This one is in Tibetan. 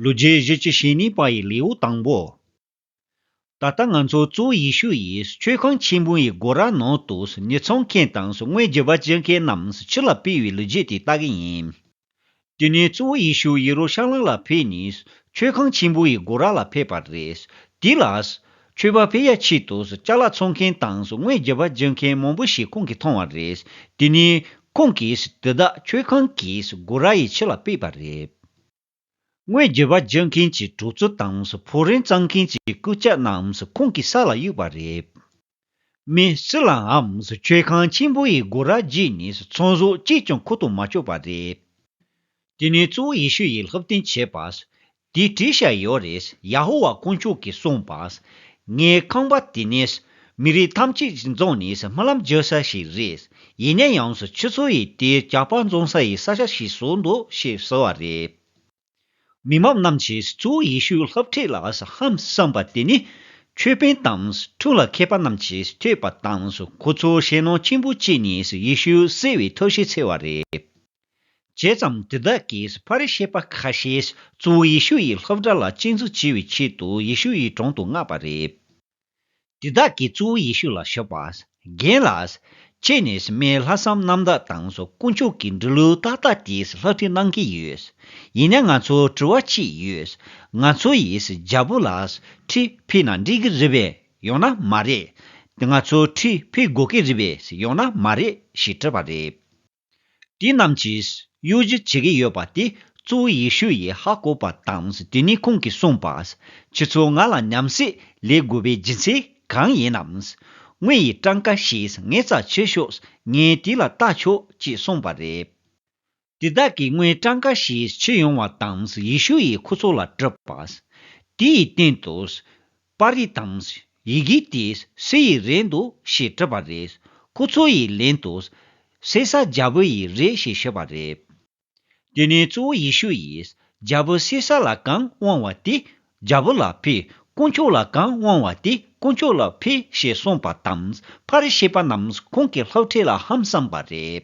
ལོ་རྗེས་བཞི་ཅུ་ཞེ་གཉིས་པ་ཡི་ལེའུ་དང་པོ། ད་ལྟ་ང་ཚོ་གཙོ་བོ་ཡེ་ཤུ་ཡིས་མཆོད་ཁང་ཆེན་པོ་ཡི་སྒོ་ར་ནང་དུ་ཉོ་ཚོང་མཁན་དང་དངོས་བརྒྱུད་པ་བྱེད་མཁན་རྣམས་ཕྱི་ལ་སྤེལ་བའི་ལོ་རྒྱུས་དེ་ལྟ་གི་ཡིན། དེ་ནས་གཙོ་བོ་ཡེ་ཤུ་ཡེ་རུ་ཤ་ལམ་ལ་ཕེབས་ནས་མཆོད་ཁང་ཆེན་པོ་ཡི་སྒོ་ར་ལ་ཕེབས་པ་རེད། དེ་ལ། མཆོད་པ་སྤེལ་ཡ་ཆེད་དུ་བཅའ་ལག་འཚོང་མཁན་དང་དངོས་བརྒྱུད་པ་བྱེད་མཁན་མང་པོ་ཞིག་ཁོང་གིས་མཐོང་བ་རེད། དེ་ནས། ཁོང་གིས་དེ་དག་མཆོད་ཁང་གི་སྒོ་ར་ཡི་ཕྱི་ལ་སྤེལ་པ་རེད། སྔོན་རྒྱུད་པ་བརྗོད་མཁན་གྱི་གྲོགས་ཚོ་དང་ཕོ་རིན་གཙང་མཁན་གྱི་སྐུ་སྐྱ་རྣམས་ཁོང་གི་ས་ལ་གཡུགས་པ་རེད། མི་སུ་ལའང་ཆོལ་ཁང་ཆེན་པོ་ཡི་སྒོ་ར་བརྒྱུད་ནས་ཚོང་ཟོག་གཅིག་ཀྱང་ཁུར་དུ་མ་བཅུག་པ་རེད། དེ་ནས་གཙོ་བོ་ཡེ་ཤུ་ཡིས་ལྷུབ་སྟོན་བྱས་པ། དེའི་བྲིས་ཤ་ཡོད་རེད་ཡ་ཧོ་ཝཱ་དཀོན་མཆོག་གིས་གསུངས་པ། ངའི་ཁང་པ་དེ་ནས་མི་རིགས་ཐམས་ཅད་ཀྱི་རྫོང་ནི་སྨོན་ལམ་བརྗོད་ས་ཞིག་རེད། ཡིན་ན་ཡང་ཆུ་ཚོད་ཡི་དེ་གྱ་དཔག་འཛོམས་ས་ཡི་ས་ཆ་ཞིག་བཟོ་འདོད་ཞེས་ཟེར་བ་རེད། མི་མང་རྣམས་ཀྱིས་གཙོ་བོ་ཡེ་ཤུའི་ལྷབ་ཁྲིད་ལ་ཧམ་བསམ་པ་དེ་ནི། ཆོས་དཔོན་དང་ཁྲུང་ལ་མཁས་པ་རྣམས་ཀྱིས་ཐོས་པ་དང་ཁོ་ཚོར་ཞེད་སྣང་ཆེན་པོ་སྐྱེས་ནས་ཡེ་ཤུ་བསད་བའི་ཐབས་ཤིག་འཚོལ་བ་རེད། བྱས་ཙང་དེ་དག་གིས་ཕ་རི་སེ་པ་ཁ་ཤས་གཙོ་བོ་ཡེ་ཤུ་ཡི་ལྷབ་སྒྲ་ལ་གཅེས་འཛུགས་བྱེད་པའི་ཆེད་དུ་ཡེ་ཤུ་ཡི་དྲུང་དུ་མངགས་པ་རེད། དེ་དག་གི་གཙོ་བོ་ཡེ་ཤུ་ལ་ཤོད་པ། རྒན་ལ། ཅེས་ནས་སི་མེའི་ལྷག་བསམ་རྣམ་དག་དང་སོགས་དཀོན་མཆོག་གི་འབྲི་ལུགས་ཏག་ཏག་དེས་ལྷག་འཕྲི་གནང་གི་ཡོད། ཡིན་ན་ང་ཚོར་དྲི་བ་གཅིག་ཡོད། ང་ཚོ་ཡིས་རྒྱལ་པོ་ལ་འཕྲི་ཕིས་ན་འགྲིག་གི་རེད་པས་ཡོང་ན་མ་རེད། ང་ཚོར་འཕྲི་ཕིས་དགོས་ཀི་རེད་པས་ཡོང་ན་མ་རེད་ཞེས་དྲིས་པ་རེད། དེ་རྣམས་ཀྱིས་གཡོ་སྒྱུ་བྱེད་ཀྱི་ཡོད་པ་དེ་གཙོ་བོ་ཡེ་ཤུ་ཡིས་ཧ་གོ་བ་དང་དེ་ནས་ཁོང་གིས་གསུངས་པ། ཁྱེད་ཚོས་ང་ལ་ཉམས་སད་ལས་དགོས་པའི་སྦྱིན་སྲེག་གང་ཡིན་ནམ། དངོས་ཡི་སྤྲང་ཀ་ཞིག་ངས་རྩ་ཆོད་ཤོག་ངས་དེ་ལ་རྟ་ཆོག་ཅེས་གསུངས་པ་རེད། དེ་དག་གིས་དངོས་སྤྲང་ཀ་ཞིག་ཁྱེར་ཡོང་བ་དང་ཡེ་ཤུ་ཡིས་ཁོ་ཚོ་ལ་དྲིས་པ། དེའི་སྟེང་དུ། པར་རིས་དང་ཡི་གེ་དེ་སུ་ཡི་རེད་འདུག་ཞེས་དྲིས་པ་རེད། ཁོ་ཚོ་ཡི་ལན་དུ། སེ་ས་རྒྱལ་པོ་ཡི་རེད་ཞེས་ཤོད་པ་རེད། དེ་ནས་གཙོ་བོ་ཡེ་ཤུ་ཡིས་རྒྱལ་པོ་སེ་ས་ལ་གང་དབང་བ་དེ་རྒྱལ་པོ་ལ་ཕུལ་དཀོན་མཆོག་ལ་གང་དབང་བ་དེ་དཀོན་མཆོག་ལ་ཕུལ་ཞེས་གསུངས་པ་དང་པར་རིས་ཤེས་པ་རྣམས་ཁོང་གི་ལྷག་ཁྲེལ་ལ་ཧམ་བསམས་པ་རེད།